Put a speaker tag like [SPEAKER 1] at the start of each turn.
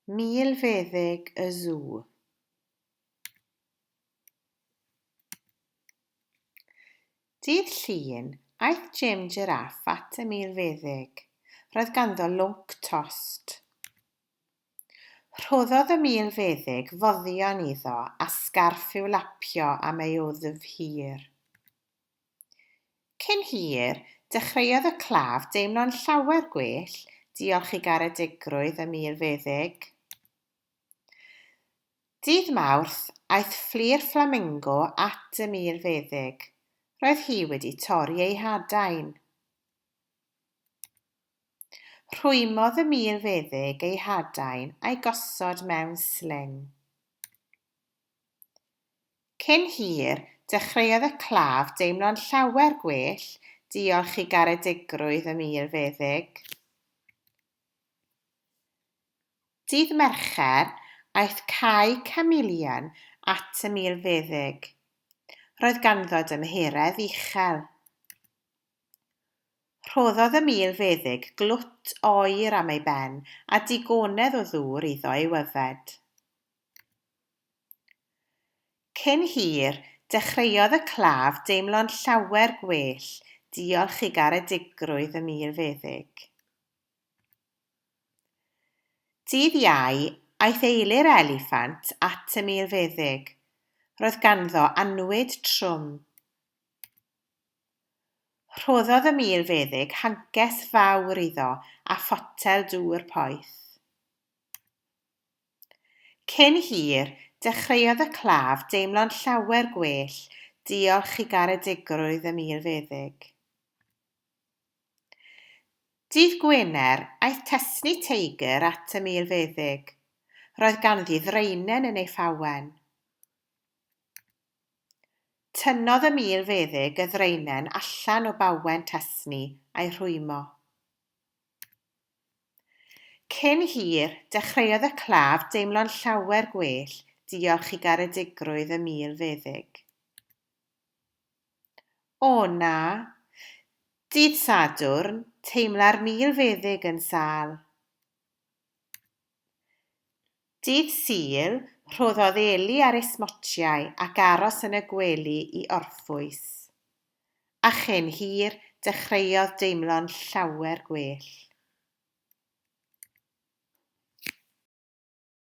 [SPEAKER 1] Milfeddyg y Sw. Dydd Llun, aeth Jim Jiráff at y milfeddyg. Roedd ganddo lwnc tost. Rhoddodd y milfeddyg foddion iddo a sgarff i'w lapio am ei wddf hir. Cyn hir, dechreuodd y claf deimlo'n llawer gwell, diolch i garedigrwydd y mur feddyg. Dydd Mawrth, aeth ffli'r fflamingo at y mur feddyg. Roedd hi wedi torri ei hadain. Rhwymodd y mur feddyg ei hadain a'i gosod mewn sling. Cyn hir, dechreuodd y claf deimlo'n llawer gwell, diolch i garedigrwydd y Mur Feddyg. Dydd Mercher, aeth Cai Chameleon at y Mur Feddyg. Roedd ganddo dymheredd uchel. Rhoddodd y Mur Feddyg glwt oer am ei ben a digonedd o ddŵr iddo ei yfed. Cyn hir, dechreuodd y claf deimlo'n llawer gwell diolch i garedigrwydd y milfeddyg. Dydd Iau, aeth eili'r eliffant at y milfeddyg. Roedd ganddo annwyd trwm. Rhoddodd y milfeddyg hancest fawr iddo a photel dŵr poeth. Cyn hir, dechreuodd y claf deimlo'n llawer gwell diolch i garedigrwydd y milfeddyg. Dydd Gwener, aeth Tesni Teiger at y milfeddyg. Roedd ganddi ddraenen yn ei phawen. Tynnodd y milfeddyg y ddraenen allan o bawen Tesni a'i rhwymo. Cyn hir, dechreuodd y claf deimlo'n llawer gwell diolch i garedigrwydd y mil feddyg. O na! Dydd Sadwrn, teimla'r mil feddyg yn sâl. Ddydd Sul, rhoddodd Eli ar ei smotiau ac aros yn y gwely i orffwys. A chyn hir, dechreuodd deimlo'n llawer gwell.